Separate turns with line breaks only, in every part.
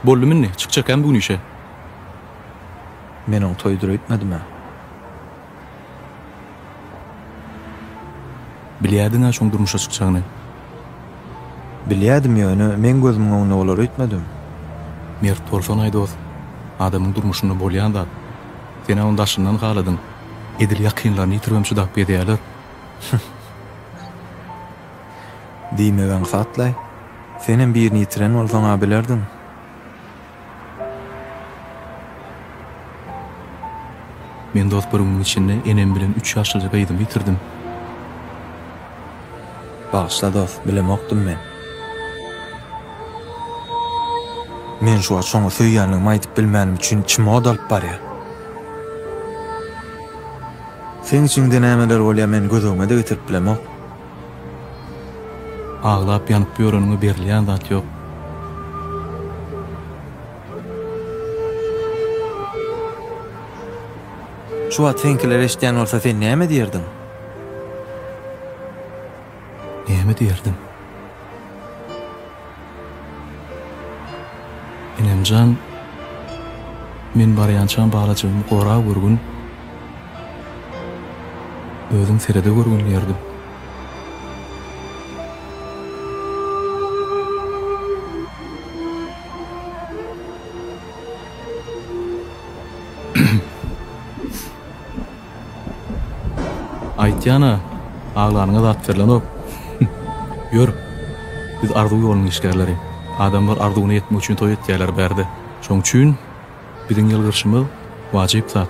Boldum indi, çykjakäm bu gün işe.
Men oň toýdur öýtmedim-ä.
Bilýärdiň-ä şoň durmuşa çykjagyny. Bilýärdim
ýöne meň gözümiň öňünde bolar öýtmedim. Mert
bolsan-aý dost, adamyň durmuşynda bolýan zat. Sen-ä ony daşyndan haladyň. Edil ýakynlaryny ýitiribem çydap gezýärler. Hüh.
Diýmek aňsatlaý. Senem birini ýitiren bolsaň-a bilerdiň.
Men dost bir günüň içinde enem bilen üç ýaşlyja gyzymy ýitirdim.
Bagyşla dost, bilemokdym men. Men şu wagt şoňa söýýänligimi aýdyp bilmänim üçin içim ot alyp barýar. Seň içiňde nämeler bolýar men gözügime-de getirip bilemok.
Aglap ýanyp ýöreniňe berilýän zat ýok.
Şu wagt seňkiler eşidýän bolsa sen näme diýerdiň?
Näme diýerdim? Enemjan, men barýançam balajygymy gora görgün, özüň serede görgün diýerdim. Aýtýan-a, aglanyňa zat berlenok. Ýör, biz arzuw ýolunyň işgärleri. Adamlar arzuwyna ýetmek üçin toý etýärler bärde. Şoň üçin biziň ýylgyrşymyz wajyp zat.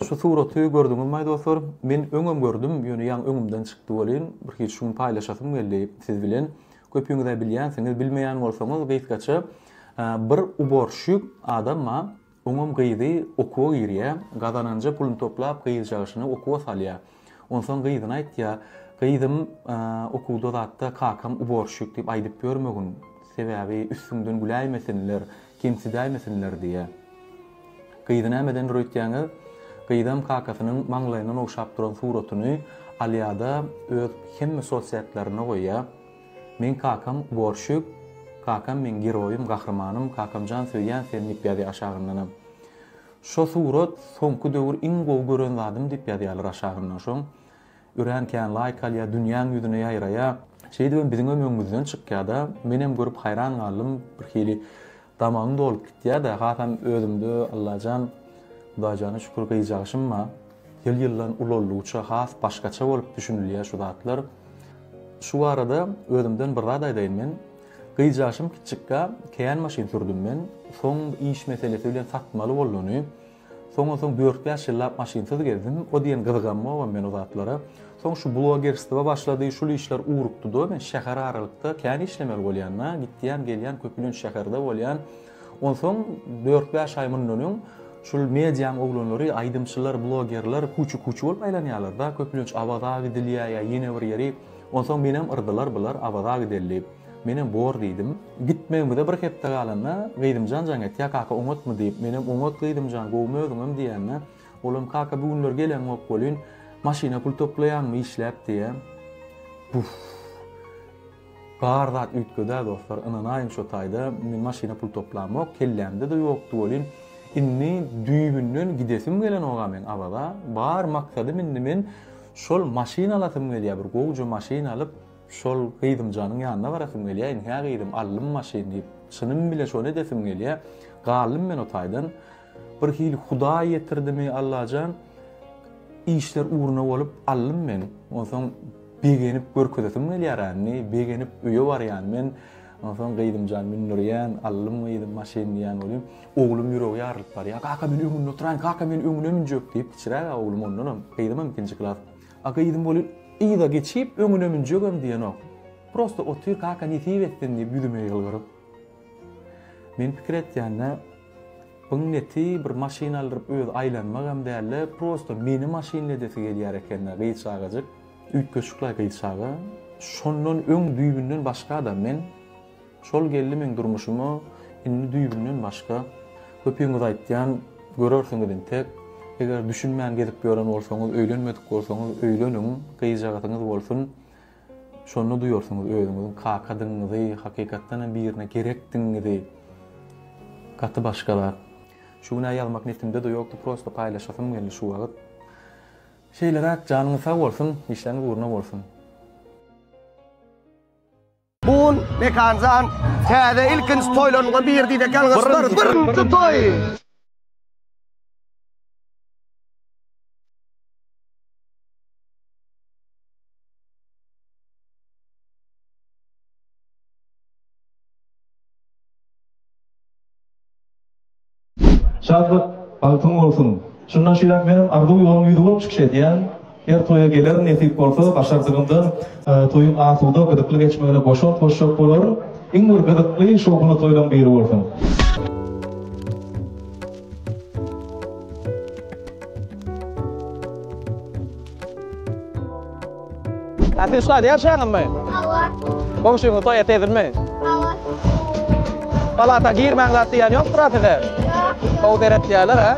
Şu suraty gördüňizmaý dostlar? Men öňem gördüm, ýöne ýaňy öňümden çykdy welin, bir hiç şu gün paýlaşasym geldi siz bilen. Köpüňizä bilýänsiňiz, bilmeýän bolsaňyz gysgaça bir uborşşik adam bar, oňam gyzy okuwa girýär, gazananja pulyny toplap gyzjagaşyny okuwa salýar. Onsoň gyzyna aýtýa, Gyzym, okuwda zatda kakam uborşşik diýip aýdyp ýörmegin, sebäbi üstüňden güläýmesinler, kemsidäýmesinler diýýä. Gyzy nämedendir öýtýäňiz? Gyzam kakasynyň maňlaýyndan ogşap duran suratyny alýada öz hemme sosiatlarynda goýýa, Meň kakam uborşşik, kakam meň geroýym, gahrymanym, kakamjan söýýän seni diýip ýazýa aşagyndanam. Şo surat soňky döwür iň gowy gören zadym diýip ýazýarlar aşagyndan şoň örän kän laýk alýar dünýäň ýüzüne ýaýraýa şeýdibem biziňem öňüňizden çykýada menem görüp haýran galdym bir hili damagym dolup gitýada hasam özümde Allajan Hudaýjana şükür gyjagyşym bar ýyl ýyldan ulaldygyça has başgaça bolup düşünilýä şu zatlar şu barada özümden bir zat aýdaýyn men Gyz ýaşym kiçikkä kän maşyn sürdüm men, soň iş meselesi bilen satmaly bolduny, soňa soň dört bäş ýyllap maşynsyz gezdim, o diýen gyzgamogam men o zatlara, soň şu blogerstwa başlady şul işler ugrukdyda men şäher aralykda kän işlemeli bolýanda gitýän gelýän köpülenç şäherde bolýan, onsoň dört bäş aý mundan öň şul mediaň oglanlary aýdymçylar blogerler kuçu kuçu bolup aýlanýalarda köpülenç awaza gidilýä ýa ýene bir ýeri, Onsoň menem yrdylar bular, Awaza gideli diýip. Menem bor diýdim. Gitmegimize bir hepde galanda, Gyzymjan jaň etýär, Kaka oňatmy diýip. Menem oňat Gyzymjan, gowumy özüňem diýende, olam Kaka bu günler geleňok welin, maşyna pul toplaýaňmy işläp diýýär. Buff! Bar zat üýtgedä dostlar, ynanaýyň şo taýda men maşyna pul toplamok, kellämde-de ýokdy welin, indi düýbünden gidesim gelenok-a meň Awaza, bar maksadym indi men, Şol maşyn alasym gelýär bir gowja maşyn alyp şol gyzymjanyň ýanyna barasym gelýär in hä gyzym aldym maşyn diýip çynym bile şony edesim gelýär galdym men o taýdan bir hili hudaý ýetirdimi allajan işler ugruna bolup aldym men onsoň begenip görkezesim gelýär indi begenip öýe barýan men Onsoň gyzymjan men nurýan, allym gyzym maşyn diýýän welin, oglum ýüregi ýarylyp barýar. Kaka men öňünde oturaýyn, kaka men öňüne münjek diýip, kiçiräk-ä oglum ondanam, gyzymam ikinji klas. A gyzym welin yza geçip, öňüne münjegem diýenok. Prosta otyr, kaka nesip etsin diýip ýüzüme ýylgyryp. Men pikir etýän-de, Buň neti bir maşyn aldyryp özi aýlanmak hem däl-de, prosta meni maşynla edesi gelýär eken-dä gyz çagajyk. Üýtgeşik-laý gyz çaga. Şondan öň düýbünden başga adam men. Şol geldi meň durmuşyma indi düýbünden başga. Köpüňiz aýtýan, görersiňiz entek. Eger düşünmän gezip ýören bolsaňyz, öýlenmedik bolsaňyz, öýleniň, gyzjagazyňyz bolsun. Şonda duýarsyňyz özüňiziň kakadygyňyzy, hakykatdan hem birine gerekdigiňizi. Gaty başga zat. Şu gün-ä ýazmak nesimde-de ýokdy, prosta paýlaşasym geldi şu wagt. Şeýleräk janyňyz sag bolsun işleriňiz ugruna bolsun.
Bu gün Mekanjan täze ilkinji toýlarynyňa biri diýdi eken gyzlar birinji toý.
Şatlyk, bagtyň bolsun! Şundan şeýläk menem Arzuw ýoluň ýüzi bolup çykyş edýän. Her toýa gelerin nesip bolsa, başardygymdan. Toýuň asuda, gyzykly geçmegine goşant goşjak bolaryn. Iň bir gyzykly, şowhunly toýlaň biri bolsun!
Äpil ussady ýaşaňyzmy? Hawa. Goňşyňyz toý etedinmi? Hawa. Palata girmäň zat diýen ýokdur-a size? Ýok. Gowy seretýärler, hä?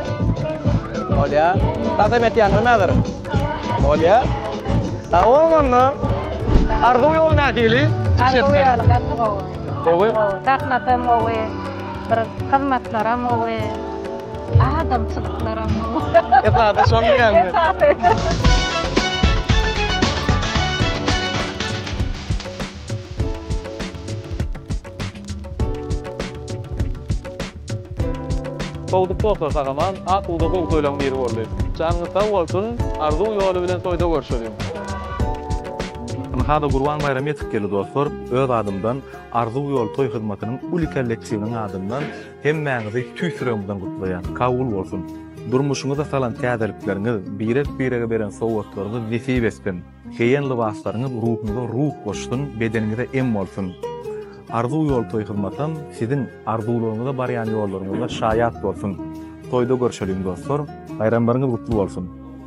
Bolýar. Kasam etýäňizmi häzir? Hawa. Bolýar. Sag-boluň onda. Arzuw ýoly nähili? Arzuw ýoly gaty gowy.
Gowy? Gowy.
Sahnasam
gowy. Bir hyzmatlaram gowy, adamçylyklaram gowy. Esasy şol
diýýäňmi? Esasy. Sowdyp bolsa sagaman asuda gowy toýlaň biri boldy. Janyňyz sag bolsun, arzuw ýoly bilen toýda görüşeliň. Ynha-da
Gurban baýramy ýetip geldi dostlar. Öz adymdan. Arzuw ýoly toý hyzmatynyň uly kollektiwiniň adyndan hemmäňizi tüýs ýüregimden gutlaýan. Kabul bolsun! Durmuşyňyza salan täzelikleriňiz, birek-birege beren sowgatlaryňyz nesip etsin! Geýen lybaslaryňyz ruhuňyza ruh goşsun, bedeniňize em bolsun! Arzuw ýoly toý hyzmatam siziň arzuwlaryňyza barýan ýollaryňyzda şaýat bolsun! Toýda görşeliň dostlar! Baýramlaryňyz gutly bolsun!